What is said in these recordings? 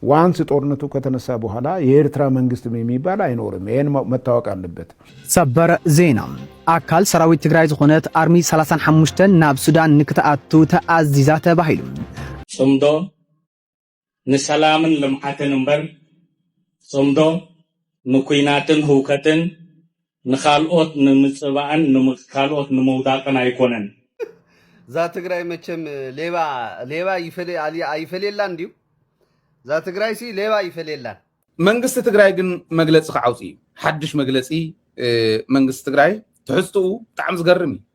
ዋንስ ጦርነቱ ከተነሳ በኋላ የኤርትራ መንግስት የሚባል ኣይኖርም ይሄን መታወቅ ኣለበት። ሰበር ዜና ኣካል ሰራዊት ትግራይ ዝኾነት ኣርሚ 35 ናብ ሱዳን ንክትኣቱ ተኣዚዛ ተባሂሉ። ፅምዶ ንሰላምን ልምዓትን እምበር ፅምዶ ንኲናትን ህውከትን ንካልኦት ንምጽባእን ንካልኦት ንምውዳቅን ኣይኮነን። እዛ ትግራይ መቸም ሌባ ሌባ ኣይፈልየላን ድዩ? እዛ ትግራይሲ ሌባ ኣይፈልየላን። መንግስቲ ትግራይ ግን መግለፂ ክዓውፅ እዩ ሓዱሽ መግለፂ መንግስቲ ትግራይ ትሕዝትኡ ብጣዕሚ ዝገርም እዩ።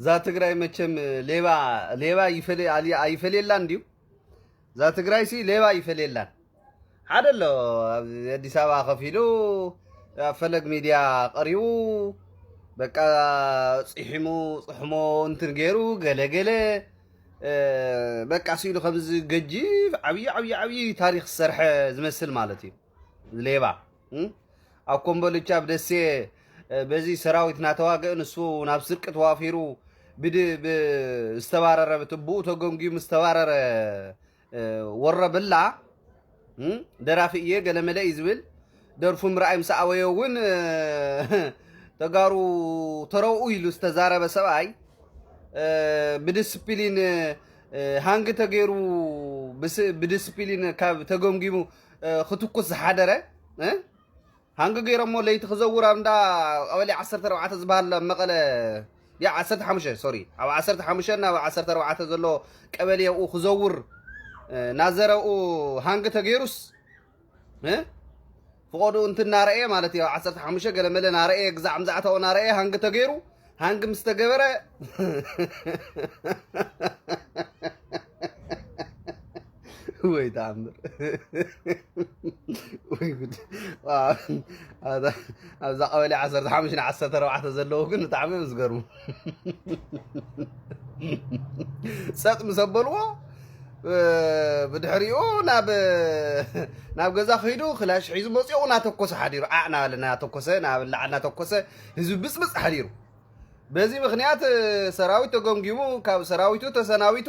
እዛ ትግራይ መቸም ሌባ ሌባ ኣይፈልየላን ድዩ? እዛ ትግራይሲ ሌባ ኣይፈልየላን። ሓደ ኣሎ ኣብ ኣዲስ ኣበባ ከፍ ኢሉ ኣብ ፈለግ ሚድያ ቀሪቡ በቃ ፅሒሙ ፅሕሞ እንትን ገይሩ ገለገለ በቃ ስኢሉ ከምዚ ገጂፍ ዓብዪ ዓብዪ ዓብዪ ታሪክ ዝሰርሐ ዝመስል ማለት እዩ። ሌባ ኣብ ኮምቦልቻ ኣብ ደሴ በዚ ሰራዊት ናተዋግእ ንሱ ናብ ስርቂ ተዋፊሩ ዝተባረረ ብኡ ተገንጊዩ ዝተባረረ ወረብላ ደራፊ እየ ገለመለ እዩ ዝብል ደርፉ ምርኣይ ምስ ኣወዮ እውን ተጋሩ ተረውኡ ኢሉ ዝተዛረበ ሰብኣይ ብዲስፕሊን ሃንግ ተገይሩ ብዲስፕሊን ካብ ተገምጊሙ ክትኩስ ዝሓደረ ሃንጊ ገይሮሞ ለይቲ ክዘውር ኣብ እንዳ ቀበሌ 14 ዝበሃል ኣብ መቐለ ያ 15 ሶሪ ኣብ 15 ናብ 14 ዘሎ ቀበሌ ኣብኡ ክዘውር ናዘረኡ ሃንጊ ተገይሩስ ፍቆዱ እንትናረኤ ማለት እዩ 15 ገለመለ ናረኤ ግዛዕ ምዛዕታኡ ናረኤ ሃንጊ ተገይሩ ሃንግ ምስ ተገበረ ወይ ተኣምር ወይ ጉድ ኣብዛ ቀበሌ 15 ን 14 ዘለዉ ግን ብጣዕሚ እዮም ዝገርሙ ፀጥ ምስ ኣበልዎ ብድሕሪኡ ናብ ገዛ ክሂዱ ክላሽ ሒዙ መፅኡ እናተኮሰ ሓዲሩ ዓዕ ናበለ እናተኮሰ ናብ ላዕሊ እናተኮሰ ህዝቢ ብፅብፅ ሓዲሩ በዚ ምክንያት ሰራዊት ተገምጊሙ ካብ ሰራዊቱ ተሰናቢቱ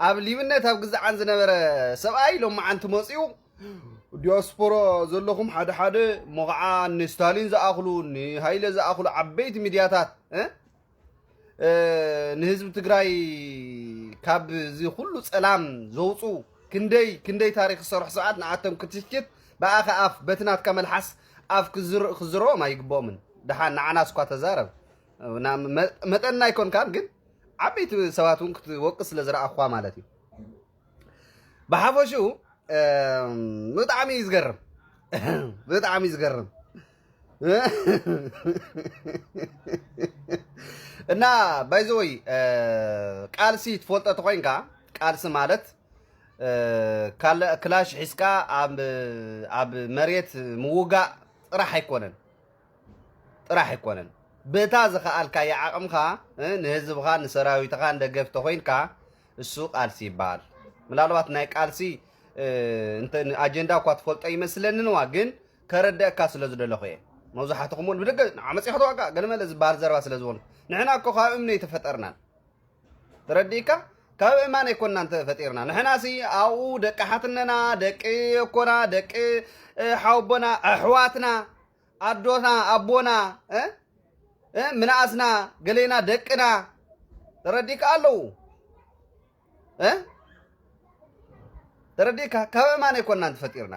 ኣብ ሊብነት ኣብ ግዛዓን ዝነበረ ሰብኣይ ሎማዓንቲ መፅኡ ዲያስፖራ ዘለኹም ሓደ ሓደ እሞ ከዓ ንስታሊን ዝኣኽሉ ንሃይለ ዝኣኽሉ ዓበይቲ ሚድያታት ንህዝቢ ትግራይ ካብ እዚ ኩሉ ፀላም ዘውፁ ክንደይ ክንደይ ታሪክ ዝሰርሑ ሰባት ንኣቶም ክትሽት ብኣኻ ኣፍ በቲ ናትካ መልሓስ ኣፍ ክዝረኦም ኣይግብኦምን ድሓን ንዓና ስኳ ተዛረብ መጠንና ኣይኮንካን ግን ዓበይቲ ሰባት እውን ክትወቅስ ስለ ዝረኣኹዋ ማለት እዩ ብሓፈሽኡ ብጣዕሚ እዩ ዝገርም ብጣዕሚ እዩ ዝገርም እና ባይዘወይ ቃልሲ ትፈልጦ ተኮይንካ ቃልሲ ማለት ክላሽ ሒዝካ ኣብ መሬት ምውጋእ ጥራሕ ኣይኮነን ጥራሕ ኣይኮነን ብእታ ዝኸኣልካያ ዓቕምኻ ንህዝብኻን ንሰራዊትኻን ደገፍ ተኾይንካ እሱ ቃልሲ ይበሃል ምናልባት ናይ ቃልሲ ኣጀንዳ እኳ ትፈልጦ ይመስለንንዋ ግን ከረደእካ ስለ ዝደለኹ እየ መብዛሕትኹም እውን ብደገ ንዓመፅ ክትዋጋ ገለመለ ዝበሃል ዘረባ ስለ ዝኾኑ ንሕና እኮ ካብ እምኒ ኣይተፈጠርናን ተረዲእካ ካብ እማን ኣይኮናን ተፈጢርና ንሕናሲ ኣብኡ ደቂ ሓትነና ደቂ ኣኮና ደቂ ሓውቦና ኣሕዋትና ኣዶና ኣቦና ምንኣስና ገሌና ደቅና ተረዲእካ ኣለዉ ተረዲእካ ካብ እማን ኣይኮናን ተፈጢርና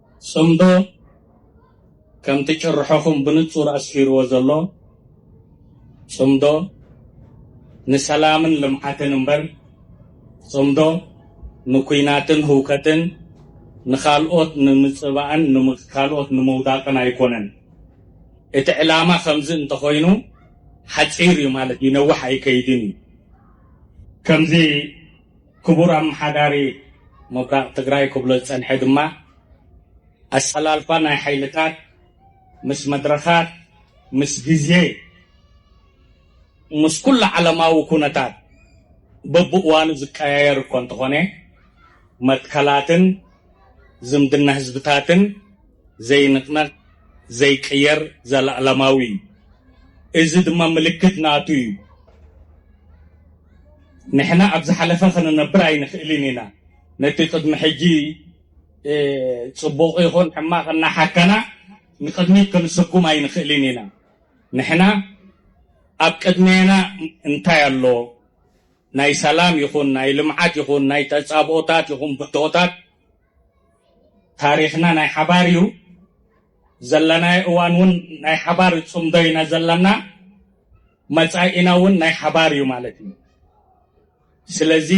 ጽምዶ ከምቲ ጭርሖኹም ብንጹር ኣስፊርዎ ዘሎ፣ ጽምዶ ንሰላምን ልምዓትን እምበር፣ ጽምዶ ንኲናትን ህውከትን፣ ንኻልኦት ንምጽባእን ንካልኦት ንምውዳቕን ኣይኮነን። እቲ ዕላማ ከምዚ እንተኾይኑ ሓጺር እዩ ማለት ድዩ ነዋሕ ኣይከይድን እዩ። ከምዚ ክቡር ኣመሓዳሪ ምብራቕ ትግራይ ክብሎ ዝፀንሐ ድማ ኣሰላልፋ ናይ ሓይልታት ምስ መድረኻት፣ ምስ ግዜ፣ ምስ ኩሉ ዓለማዊ ኩነታት በብእዋኑ ዝቀያየር እኳ እንተኾነ መትከላትን ዝምድና ህዝብታትን፣ ዘይንቅነቅ ዘይቅየር ዘላእለማዊ እዩ እዚ ድማ ምልክት ናቱ እዩ ንሕና ኣብ ዝሓለፈ ክንነብር ኣይንክእልን ኢና ነቲ ቅድሚ ሕጂ ጽቡቅ ይኩን ሕማቅ እናሓከና ንቅድሚት ክንስጉም ኣይንክእልን ኢና ንሕና ኣብ ቅድሜና እንታይ ኣሎ ናይ ሰላም ይኩን ናይ ልምዓት ይኩን ናይ ተጻብኦታት ይኩን ብድሆታት ታሪኽና ናይ ሓባር እዩ። ዘለናዮ እዋን እውን ናይ ሓባር ፅምዶ ኢና ዘለና፣ መፃኢና እውን ናይ ሓባር እዩ ማለት እዩ። ስለዚ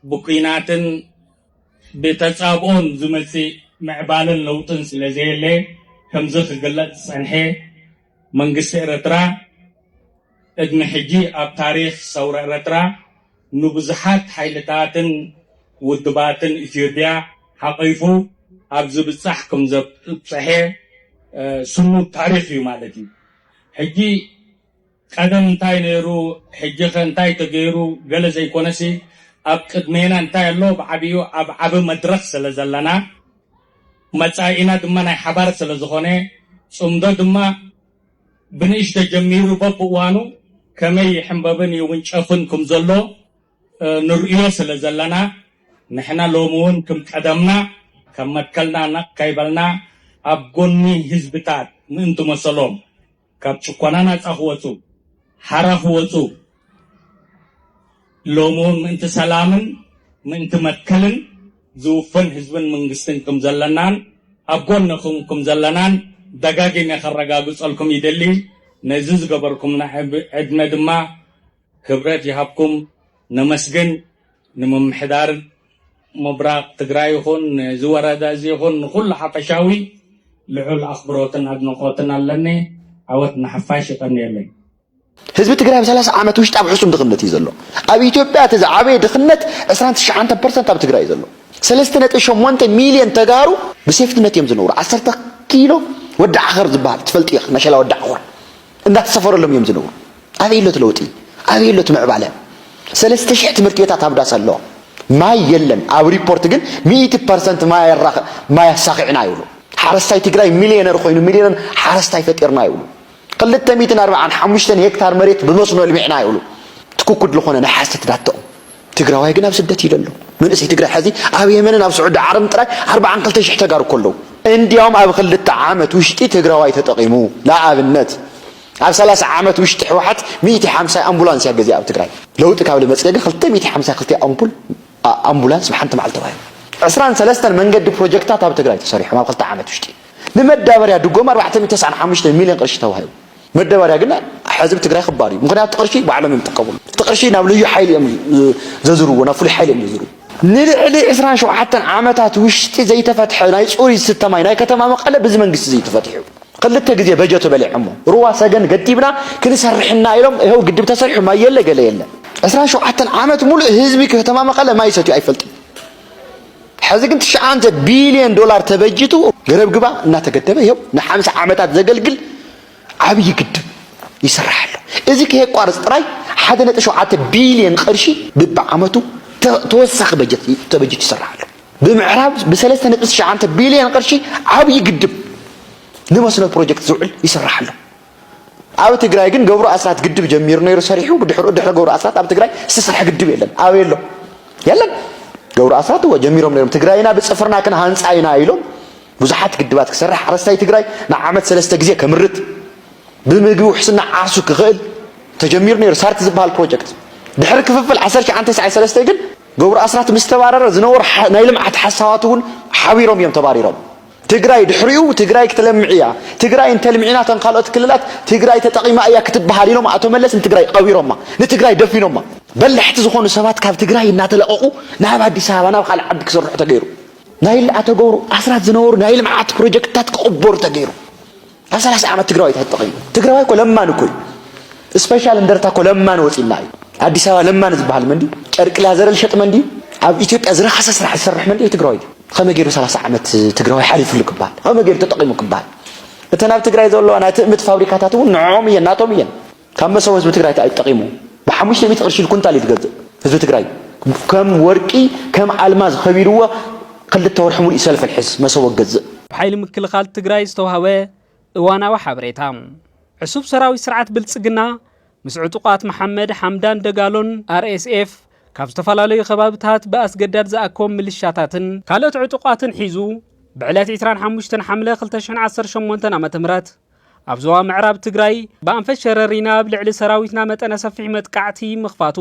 ብኲናትን ብተፃብኦን ዝመፅእ ምዕባለን ለውጥን ስለዘየለ ከምዚ ክግለፅ ዝፀንሐ መንግስቲ ኤርትራ ቅድሚ ሕጂ ኣብ ታሪኽ ሰውራ ኤረትራ ንብዙሓት ሓይልታትን ውድባትን ኢትዮጵያ ሓቂፉ ኣብ ዝብጻሕ ክምዘብጸሐ ስኑድ ታሪኽ እዩ ማለት እዩ። ሕጂ ቀደም እንታይ ነይሩ ሕጂኸ እንታይ ተገይሩ ገለ ዘይኮነሲ ኣብ ቅድሜና እንታይ ኣሎ ብዓቢኡ ኣብ ዓቢ መድረኽ ስለዘለና መጻኢና ድማ ናይ ሓባር ስለዝኾነ ጽምዶ ድማ ብንእሽቶ ጀሚሩ በብእዋኑ ከመይ ይሕምበብን ይውንጨፍን ክም ዘሎ ንርእዮ ስለ ዘለና ንሕና ሎሚ ውን ክም ቀደምና ካብ መትከልና ነቕ ከይበልና ኣብ ጎኒ ህዝብታት ምእንቲ መሰሎም ካብ ጭኮና ናጻ ክወጹ፣ ሓራ ክወጹ፣ ሎምውን ምእንቲ ሰላምን ምእንቲ መትከልን ዝውፈን ህዝብን መንግስትን ክም ዘለናን ኣብ ጎንኹም ክም ዘለናን ደጋጊመ ከረጋግጸልኩም ይደሊ። ነዚ ዝገበርኩምና ዕድመ ድማ ክብረት ይሃብኩም ነመስግን። ንምምሕዳር ምብራቕ ትግራይ ይኹን ነዚ ወረዳ እዚ ይኹን ንኹሉ ሓፈሻዊ ልዑል ኣኽብሮትን ኣድንቖትን ኣለኒ። ዓወት ንሓፋሽ። የቐንየለይ። ህዝቢ ትግራይ ኣብ ሰላሳ ዓመት ውሽጢ ኣብ ሕሱም ድኽነት እዩ ዘሎ። ኣብ ኢትዮጵያ እቲ ዝዓበየ ድኽነት ዕስራን ትሽዓንተን ፐርሰንት ኣብ ትግራይ እዩ ዘሎ። ሰለስተ ነጥቢ ሸሞንተ ሚልዮን ተጋሩ ብሴፍትነት እዮም ዝነብሩ። ዓሰርተ ኪሎ ወዲ ዓኸር ዝበሃል ትፈልጥዮ ኢኻ፣ መሸላ ወዲ ዓኾር እንዳተሰፈረሎም እዮም ዝነብሩ። ኣበይ ኣሎ እቲ ለውጢ? ኣበይ ኣሎ እቲ ምዕባለ? ሰለስተ ሽሕ ትምህርቲ ቤታት ኣብ ዳስ ኣሎ፣ ማይ የለን። ኣብ ሪፖርት ግን ሚእቲ ፐርሰንት ማይ ኣሳኺዕና ይብሉ። ሓረስታይ ትግራይ ሚልዮነር ኮይኑ ሚልዮነር ሓረስታይ ፈጢርና ይብሉ። ክልተ ሚእትን ኣርብዓን ሓሙሽተን ሄክታር መሬት ብመስኖ ኣልሚዕና ይብሉ ትክኩድ ልኾነ ናይ ሓሰት ዳተኦም ትግራዋይ ግን ኣብ ስደት እዩ ዘሎ መንእሰይ ትግራይ ሐዚ ኣብ የመንን ኣብ ስዑዲ ዓረብን ጥራይ ኣርብዓን ክልተ ሽሕ ተጋሩ እኮ ኣለዉ እንዲያውም ኣብ ክልተ ዓመት ውሽጢ ትግራዋይ ተጠቒሙ ንኣብነት ኣብ ሰላሳ ዓመት ውሽጢ ሕወሓት ሚእቲ ሓምሳ ኣምቡላንስ እያ ገዚኣ ኣብ ትግራይ ለውጢ ካብ ልመፅገ ግን ክልተ ሚእቲ ሓምሳ ክልተ ኣምፑል ኣምቡላንስ ብሓንቲ መዓልቲ ተባሂሉ። ዕስራን ሰለስተን መንገዲ ፕሮጀክትታት ኣብ ትግራይ ተሰሪሖም ኣብ ክልተ ዓመት ውሽጢ። ንመዳበርያ ድጎማ ኣርባዕተ ሚእቲ ተስዓን ሓሙሽተን ሚልዮን ቅርሺ ተዋሂቡ። መዳበርያ ግን ሕዚ ብትግራይ ክባር እዩ። ምኽንያቱ እቲ ቅርሺ ባዕሎም እዮም ዝጥቀምሉ። እቲ ቅርሺ ናብ ልዩ ሓይሊ እዮም ዘዝርዎ፣ ናብ ፍሉይ ሓይሊ እዮም ዘዝርዎ። ንልዕሊ ዕስራን ሸውዓተን ዓመታት ውሽጢ ዘይተፈትሐ ናይ ፅሩይ ዝስተ ማይ ናይ ከተማ መቐለ ብዚ መንግስቲ እዚ እዩ ተፈቲሑ። ኽልተ ግዜ በጀቶ በሊዖሞ ሩባ ሰገን ገዲብና ክንሰርሕ እና ኢሎም እሀው ግድብ ተሰሪሑ ማይ የለ ገለ የለ። ዕስራን ሸውዓተን ዓመት ሙሉእ ህዝቢ ከተማ መቐለ ማይ ሰትዩ ኣይፈልጥን ሐዚ ግን ትሽዓተ ቢልየን ዶላር ተበጂቱ ገረብ ግባ እናተገደበ እሀው ንሓምሳ ዓመታት ዘገልግል ዓብዪ ግድብ ይስራሕ ኣሎ እዚ ከየቋርፅ ጥራይ ሓደ ነጥቢ ሸውዓተ ቢልየን ቕርሺ ብብዓመቱ ተወሳኺ በጀት ተበጂቱ ይስራሕ ኣሎ። ብምዕራብ ብሰለስተ ነጥቢ ትሽዓተ ቢልየን ቅርሺ ዓብዪ ግድብ ንመስኖ ፕሮጀክት ዝውዕል ይስራሕ ኣሎ። ኣብ ትግራይ ግን ገብሩ ኣስራት ግድብ ጀሚሩ ነይሩ ሰሪሑ ብድሕሩ ድሕሪ ገብሩ ኣስራት ኣብ ትግራይ ዝተሰርሐ ግድብ የለን ኣበይ ኣሎ የለን ገብሩ ኣስራት እወ ጀሚሮም ነይሮም ትግራይና ብፅፍርና ክንሃንፃ ኢና ኢሎም ብዙሓት ግድባት ክሰርሕ ሓረስታይ ትግራይ ንዓመት ሰለስተ ግዜ ከምርት ብምግቢ ውሕስና ዓርሱ ክኽእል ተጀሚሩ ነይሩ ሳርቲ ዝበሃል ፕሮጀክት ድሕሪ ክፍፍል 1993 ግን ገብሩ ኣስራት ምስ ተባረረ ዝነበሩ ናይ ልምዓት ሓሳባት እውን ሓቢሮም እዮም ተባሪሮም። ትግራይ ድሕሪኡ ትግራይ ክትለምዕ እያ፣ ትግራይ እንተልሚዕና እተን ካልኦት ክልላት ትግራይ ተጠቒማ እያ ክትበሃል ኢሎም ኣቶ መለስ ንትግራይ ቐቢሮማ፣ ንትግራይ ደፊኖማ። በላሕቲ ዝኾኑ ሰባት ካብ ትግራይ እናተለቐቑ ናብ ኣዲስ ኣበባ ናብ ካልእ ዓዲ ክስርሑ ተገይሩ። ናይ ኣቶ ገብሩ ኣስራት ዝነበሩ ናይ ልምዓት ፕሮጀክትታት ክቕበሩ ተገይሩ። ኣብ ሰላሳ ዓመት ትግራዋይ ተሕጥቕ እዩ። ትግራዋይ እኮ ለማን እኮ እዩ። ስፔሻል እንደርታ እኮ ለማን ወፂና እዩ። ኣዲስ ኣበባ ለማን ዝበሃል መን ድዩ? ጨርቂ ላዘረ ዝሸጥ መን ድዩ? ኣብ ኢትዮጵያ ዝረኸሰ ስራሕ ዝሰርሕ መን ድዩ? ትግራዋይ ድዩ? ከመይ ገይሩ ሰላሳ ዓመት ትግራዋይ ሓሊፍሉ ክበሃል? ከመይ ገይሩ ተጠቒሙ ክበሃል? እተን ኣብ ትግራይ ዘለዋ ናይ ትእምት ፋብሪካታት እውን ንዕኦም እየን፣ ናቶም እየን። ካብ መሰቦ ህዝቢ ትግራይ ታይ እዩ ጠቂሙ ብሓሙሽተ ሚእቲ ቅርሺ ኩንታል እዩ ዝገዝእ ህዝቢ ትግራይ ከም ወርቂ ከም ኣልማዝ ከቢርዎ ክልተ ወርሒ ሙሉእ ሰልፊ ሕዝ መሰቦ ክገዝእ። ብሓይሊ ምክልኻል ትግራይ ዝተውሃበ እዋናዊ ሓበሬታ። ዕሱብ ሰራዊት ስርዓት ብልፅግና ምስ ዕጡቓት መሓመድ ሓምዳን ደጋሎን፣ RSF፣ ካብ ዝተፈላለዩ ከባብታት ብኣስገዳድ ዝኣከቦም ምልሻታትን ካልኦት ዕጡቓትን ሒዙ ብዕለት ዕስራን ሓሙሽተን ሓምለ ክልተ ሽሕን ዓሰርተ ሸሞንተን ዓ.ም ኣብ ዞባ ምዕራብ ትግራይ ብኣንፈት ሸረሪና ኣብ ልዕሊ ሰራዊትና መጠነ ሰፊሕ መጥቃዕቲ ምኽፋቱ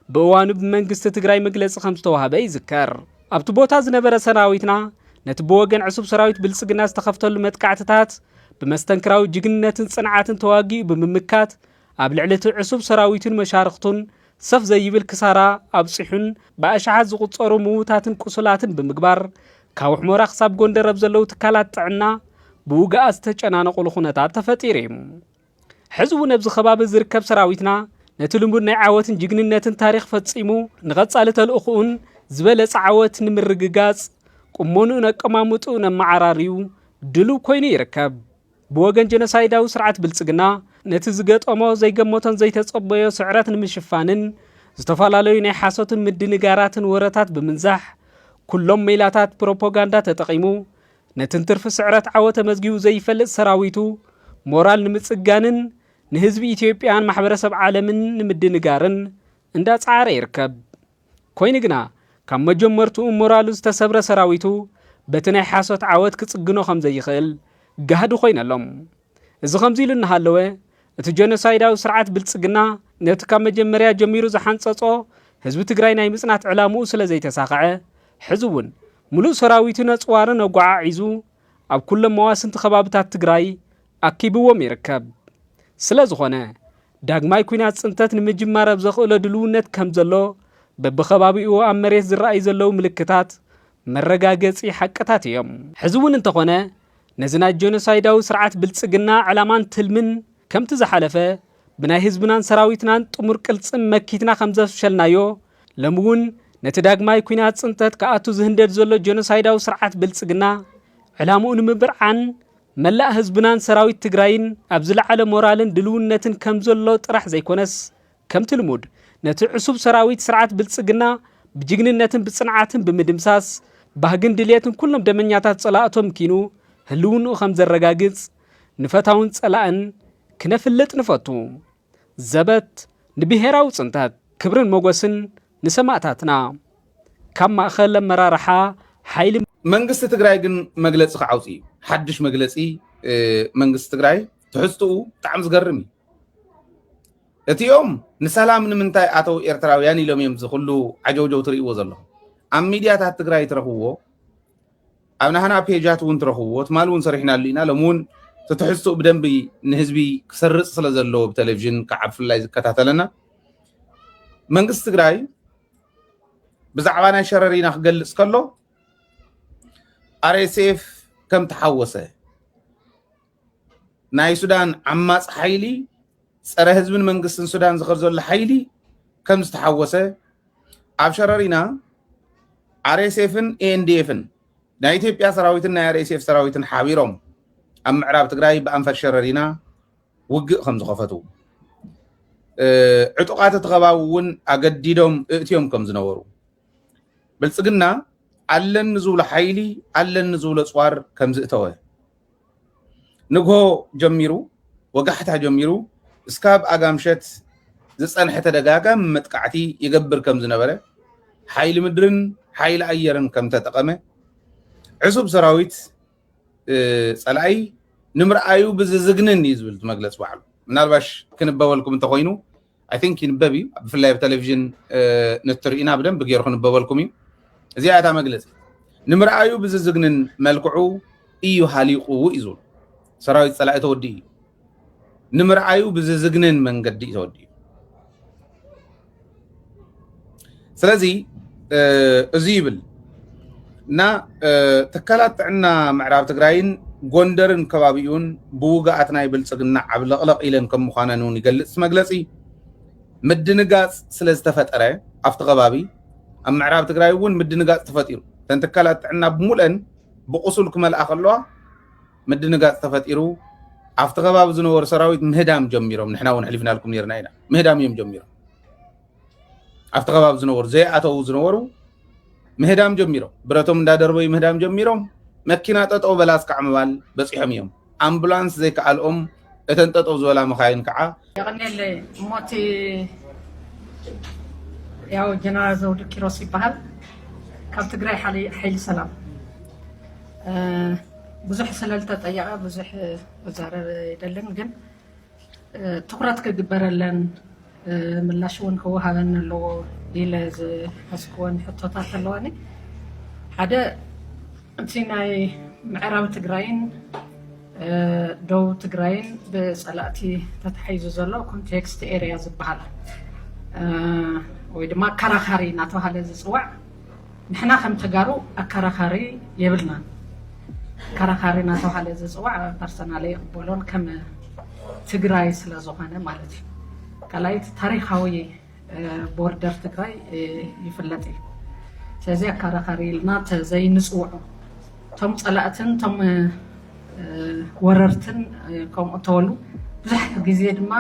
ብእዋኑ ብመንግስቲ ትግራይ መግለፂ ከም ዝተዋህበ ይዝከር። ኣብቲ ቦታ ዝነበረ ሰራዊትና ነቲ ብወገን ዕሱብ ሰራዊት ብልፅግና ዝተኸፍተሉ መጥቃዕትታት ብመስተንክራዊ ጅግንነትን ፅንዓትን ተዋጊኡ ብምምካት ኣብ ልዕሊ እቲ ዕሱብ ሰራዊቱን መሻርኽቱን ሰፍ ዘይብል ክሳራ ኣብጺሑን ብኣሽሓት ዝቑጸሩ ምዉታትን ቁሱላትን ብምግባር ካብ ሑመራ ክሳብ ጎንደር ኣብ ዘለዉ ትካላት ጥዕና ብውግኣት ዝተጨናነቑሉ ኩነታት ተፈጢሩ እዩ። ሕዚ እውን ኣብዚ ከባቢ ዝርከብ ሰራዊትና ነቲ ልሙድ ናይ ዓወትን ጅግንነትን ታሪኽ ፈጺሙ ንቐጻሊ ተልእኹኡን ዝበለጸ ዓወት ንምርግጋጽ ቁመንኡን ኣቀማምጥኡን ኣመዓራርዩ ድሉው ኮይኑ ይርከብ። ብወገን ጀኖሳይዳዊ ስርዓት ብልጽግና፣ ነቲ ዝገጠሞ ዘይገመቶን ዘይተጸበዮ ስዕረት ንምሽፋንን፣ ዝተፈላለዩ ናይ ሓሶትን ምድንጋራትን ወረታት ብምንዛሕ፣ ኩሎም ሜላታት ፕሮፖጋንዳ ተጠቒሙ፣ ነቲ እንትርፊ ስዕረት ዓወት ተመዝጊቡ ዘይፈልጥ ሰራዊቱ ሞራል ንምጽጋንን፣ ንህዝቢ ኢትዮጵያን ማሕበረሰብ ዓለምን ንምድንጋርን እንዳጸዓረ ይርከብ። ኮይኑ ግና ካብ መጀመርትኡ ሞራሉ ዝተሰብረ ሰራዊቱ በቲ ናይ ሓሶት ዓወት ክጽግኖ ከም ዘይኽእል ጋህዲ ኮይኑ ኣሎ። እዚ ከምዚ ኢሉ እናሃለወ እቲ ጀኖሳይዳዊ ስርዓት ብልጽግና ነቲ ካብ መጀመርያ ጀሚሩ ዝሓንጸጾ ህዝቢ ትግራይ ናይ ምጽናት ዕላምኡ ስለ ዘይተሳኸዐ ሕዚ እውን ምሉእ ሰራዊቱ ነጽዋርን ኣጓዓዒዙ ኣብ ኩሎም መዋስንቲ ከባብታት ትግራይ ኣኪብዎም ይርከብ። ስለዝኾነ ዳግማይ ኩናት ፅንተት ንምጅማር ኣብ ዘኽእሎ ድልውነት ከምዘሎ በብኸባቢኡ ኣብ መሬት ዝረኣዩ ዘለዉ ምልክታት መረጋገፂ ሓቅታት እዮም። ሕዚ እውን እንተኾነ ነዚ ናይ ጀኖሳይዳዊ ስርዓት ብልፅግና ዕላማን ትልምን ከምቲ ዝሓለፈ ብናይ ህዝብናን ሰራዊትናን ጥሙር ቅልጽም መኪትና ከም ዘፍሸልናዮ፣ ሎሚ እውን ነቲ ዳግማይ ኩናት ጽንተት ክኣቱ ዝህንደድ ዘሎ ጀኖሳይዳዊ ስርዓት ብልጽግና ዕላምኡ ንምብርዓን መላእ ህዝብናን ሰራዊት ትግራይን ኣብ ዝለዓለ ሞራልን ድልውነትን ከም ዘሎ ጥራሕ ዘይኮነስ ከምቲ ልሙድ ነቲ ዕሱብ ሰራዊት ስርዓት ብልጽግና ብጅግንነትን ብጽንዓትን ብምድምሳስ ባህግን ድልየትን ኩሎም ደመኛታት ጸላእቶም ኪኑ ህልውንኡ ከም ዘረጋግጽ ንፈታውን ጸላእን ክነፍልጥ ንፈቱ። ዘበት ንብሄራዊ ጽንተት! ክብርን ሞጎስን ንሰማእታትና! ካብ ማእኸል ኣመራርሓ ሓይሊ። መንግስቲ ትግራይ ግን መግለፂ ክዓውፅ እዩ ሓዱሽ መግለፂ መንግስቲ ትግራይ ትሕዝትኡ ብጣዕሚ ዝገርም እዩ እቲኦም ንሰላም ንምንታይ ኣተው ኤርትራውያን ኢሎም እዮም ዝኩሉ ዓጀውጀው ትርእይዎ ዘለኹም ኣብ ሚድያታት ትግራይ ትረኽብዎ ኣብ ናህና ፔጃት እውን ትረኽብዎ ትማል እውን ሰሪሕናሉ ኢና ሎሚ እውን እቲ ትሕዝትኡ ብደንቢ ንህዝቢ ክሰርፅ ስለ ዘለዎ ብቴሌቭዥን ከዓ ብፍላይ ዝከታተለና መንግስቲ ትግራይ ብዛዕባ ናይ ሸረሪና ክገልፅ ከሎ ኣርኤስኤፍ ከም ተሓወሰ ናይ ሱዳን ዓማፅ ሓይሊ ፀረ ህዝብን መንግስትን ሱዳን ዝኸር ዘሎ ሓይሊ ከም ዝተሓወሰ ኣብ ሸረሪና ኣርኤስኤፍን ኤንዲኤፍን ናይ ኢትዮጵያ ሰራዊትን ናይ ኣርኤስኤፍ ሰራዊትን ሓቢሮም ኣብ ምዕራብ ትግራይ ብኣንፈት ሸረሪና ውግእ ከም ዝኸፈቱ ዕጡቃት እቲ ከባቢ እውን ኣገዲዶም እእትዮም ከም ዝነበሩ ብልፅግና ኣለኒ ዝብሎ ሓይሊ ኣለኒ ዝብሎ ፅዋር ከም ዝእተወ ንግሆ ጀሚሩ ወጋሕታ ጀሚሩ እስካብ ኣጋምሸት ዝፀንሐ ተደጋጋሚ መጥቃዕቲ ይገብር ከም ዝነበረ ሓይሊ ምድርን ሓይሊ ኣየርን ከም ተጠቐመ ዕሱብ ሰራዊት ፀላኢ ንምርኣዩ ብዝዝግንን እዩ ዝብል መግለፂ ባዕሉ ምናልባሽ ክንበበልኩም እንተኮይኑ ኣይ ቲንክ ይንበብ እዩ ብፍላይ ኣብ ቴሌቭዥን ንትርኢና ብደንቢ ገይሩ ክንበበልኩም እዩ እዚኣ እታ መግለፂ ንምርኣዩ ብዝዝግንን መልክዑ እዩ ሃሊቑ እዩ ዝብሉ ሰራዊት ፀላኢ ተወዲ እዩ ንምርኣዩ ብዝዝግንን መንገዲ እዩ ተወዲ እዩ ስለዚ እዚ ይብል እና ትካላት ጥዕና ምዕራብ ትግራይን ጎንደርን ከባቢኡን ብውግኣት ናይ ብልፅግና ዓብለቕለቕ ኢለን ከም ምዃነን እውን ይገልፅ መግለፂ ምድንጋፅ ስለ ዝተፈጠረ ኣብቲ ከባቢ ኣብ ምዕራብ ትግራይ እውን ምድንጋፅ ተፈጢሩ እተን ትካላት ጥዕና ብሙለን ብቁሱል ክመልኣ ከለዋ ምድንጋፅ ተፈጢሩ ኣብቲ ከባቢ ዝነበሩ ሰራዊት ምህዳም ጀሚሮም ንሕና እውን ሕሊፍናልኩም ነርና ኢና ምህዳም እዮም ጀሚሮም ኣብቲ ከባቢ ዝነበሩ ዘይኣተዉ ዝነበሩ ምህዳም ጀሚሮም ብረቶም እንዳደርበዩ ምህዳም ጀሚሮም መኪና ጠጠው በላ እስካዕ ምባል በፂሖም እዮም ኣምቡላንስ ዘይከኣልኦም እተን ጠጠው ዝበላ መካይን ከዓ የቐኒየለይ እሞ እቲ ያው ጀነራል ዘውዱ ኪሮስ ይበሃል ካብ ትግራይ ሓይሊ ሰላም ብዙሕ ስለልተጠየቐ ብዙሕ መዛረብ የደልን ግን ትኹረት ክግበረለን ምላሽ እውን ክወሃበን ኣለዎ ኢለ ዝሓስብወን ሕቶታት ኣለዋኒ። ሓደ እቲ ናይ ምዕራብ ትግራይን ደቡብ ትግራይን ብፀላእቲ ተታሒዙ ዘሎ ኮንቴክስት ኤሪያ ዝበሃል ወይ ድማ ኣከራኻሪ እናተባሃለ ዝፅዋዕ ንሕና ከም ተጋሩ ኣካራኻሪ የብልናን ኣካራኻሪ ናተብሃለ ዝፅዋዕ ፐርሰናሊ ኣይቕበሎን ከም ትግራይ ስለ ዝኾነ ማለት እዩ ካልኣይቲ ታሪኻዊ ቦርደር ትግራይ ይፍለጥ እዩ ስለዚ ኣካራኻሪ ኢልና ተዘይንፅውዖ እቶም ፀላእትን እቶም ወረርትን ከምኡ ተበሉ ብዙሕ ግዜ ድማ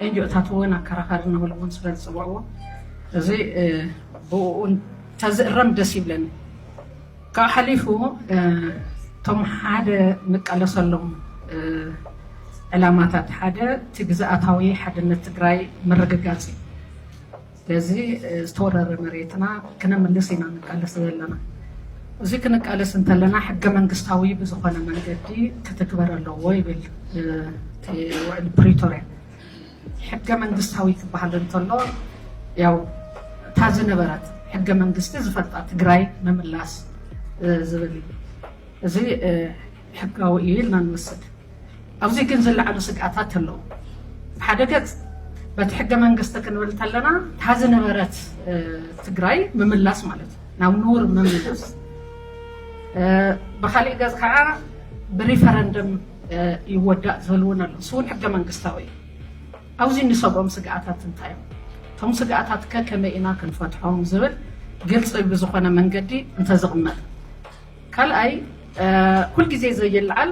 ኤንጅኦታት እውን ኣከራኸሪ ንብል እውን ስለ ዝፅውዕዎ እዚ ብኡ ተዝእረም ደስ ይብለኒ ካብ ሓሊፉ እቶም ሓደ ንቃለሰሎም ዕላማታት ሓደ እቲ ግዝኣታዊ ሓድነት ትግራይ ምርግጋፅ እዩ ነዚ ዝተወረረ መሬትና ክነምልስ ኢና ንቃለስ ዘለና። እዚ ክንቃለስ እንተለና ሕገ መንግስታዊ ብዝኾነ መንገዲ ክትግበር ኣለዎ ይብል እቲ ውዕል ፕሪቶርያ። ሕገ መንግስታዊ ክበሃል እንተሎ ያው እታ ዝነበረት ሕገ መንግስቲ ዝፈልጣ ትግራይ ምምላስ ዝብል እዩ። እዚ ሕጋዊ እዩ ኢልና ንወስድ። ኣብዚ ግን ዝለዓሉ ስግኣታት ኣለዉ። ብሓደ ገፅ በቲ ሕገ መንግስቲ ክንብል ተለና እታ ዝነበረት ትግራይ ምምላስ ማለት እዩ፣ ናብ ንቡር ምምላስ። ብኻሊእ ገፅ ከዓ ብሪፈረንደም ይወዳእ ዝብል እውን ኣሎ። እሱ እውን ሕገ መንግስታዊ እዩ። ኣብዚ እንሰግኦም ስግኣታት እንታይ እዮም? እቶም ስግኣታት ከ ከመይ ኢና ክንፈትሖም ዝብል ግልፂ ብዝኾነ መንገዲ እንተዝቕመጥ። ካልኣይ ኩል ግዜ ዘይልዓል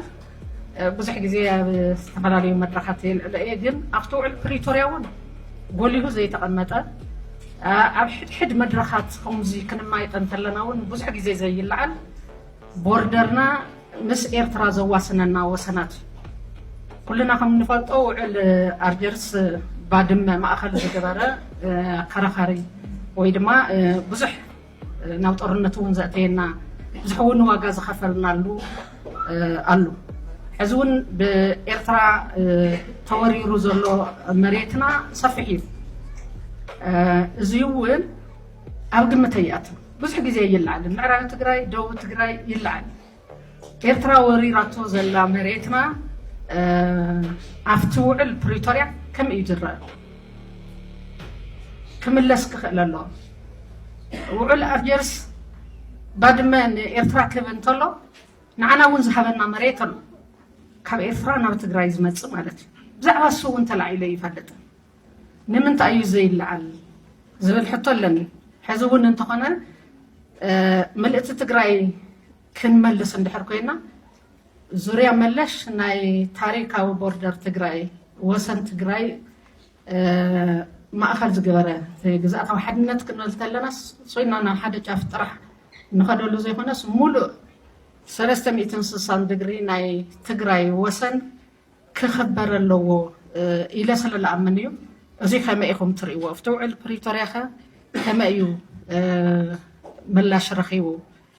ብዙሕ ግዜ ኣብ ዝተፈላለዩ መድረኻት የልዕሎ እየ ግን ኣብቲ ውዕል ፕሪቶርያ እውን ጎሊሁ ዘይተቐመጠ ኣብ ሕድሕድ መድረኻት ከምዚ ክንማይጠ እንተለና እውን ብዙሕ ግዜ ዘይልዓል ቦርደርና ምስ ኤርትራ ዘዋስነና ወሰናት እዩ ኩልና ከም እንፈልጦ ውዕል ኣልጀርስ ባድመ ማእኸል ዝገበረ ኣከራኻሪ ወይ ድማ ብዙሕ ናብ ጦርነት እውን ዘእተየና ብዙሕ እውን ዋጋ ዝኸፈልናሉ ኣሉ ሕዚ እውን ብኤርትራ ተወሪሩ ዘሎ መሬትና ሰፊሕ እዩ እዚ እውን ኣብ ግምት ኣይኣትን ብዙሕ ግዜ ይለዓል ምዕራብ ትግራይ ደቡብ ትግራይ ይለዓል ኤርትራ ወሪራቶ ዘላ መሬትና ኣብቲ ውዕል ፕሪቶርያ ከመይ እዩ ዝረኣ? ክምለስ ክኽእል ኣለዎ። ውዕል ኣልጀርስ ባድመ ንኤርትራ ክህብ እንተሎ ንዓና እውን ዝሃበና መሬት ኣሎ ካብ ኤርትራ ናብ ትግራይ ዝመፅእ ማለት እዩ ብዛዕባ እሱ እውን ተላዒለ ይፈልጥ ንምንታይ እዩ ዘይለዓል ዝብል ሕቶ ኣለኒ ሐዚ እውን እንተኾነ ምልእቲ ትግራይ ክንመልስ እንድሕር ኮይና ዙርያ መለሽ ናይ ታሪካዊ ቦርደር ትግራይ ወሰን ትግራይ ማእኸል ዝገበረ ግዝኣታዊ ሓድነት ክንብል ተለና ሶይና ናብ ሓደ ጫፍ ጥራሕ ንኸደሉ ዘይኮነስ ሙሉእ ሰለስተ ሚእትን ስሳን ድግሪ ናይ ትግራይ ወሰን ክኽበር ኣለዎ ኢለ ስለ ልኣምን እዩ። እዙይ ከመይ ኢኹም ትርእይዎ? ኣብቲ ውዕል ፕሪቶርያኸ ከመይ እዩ ምላሽ ረኺቡ?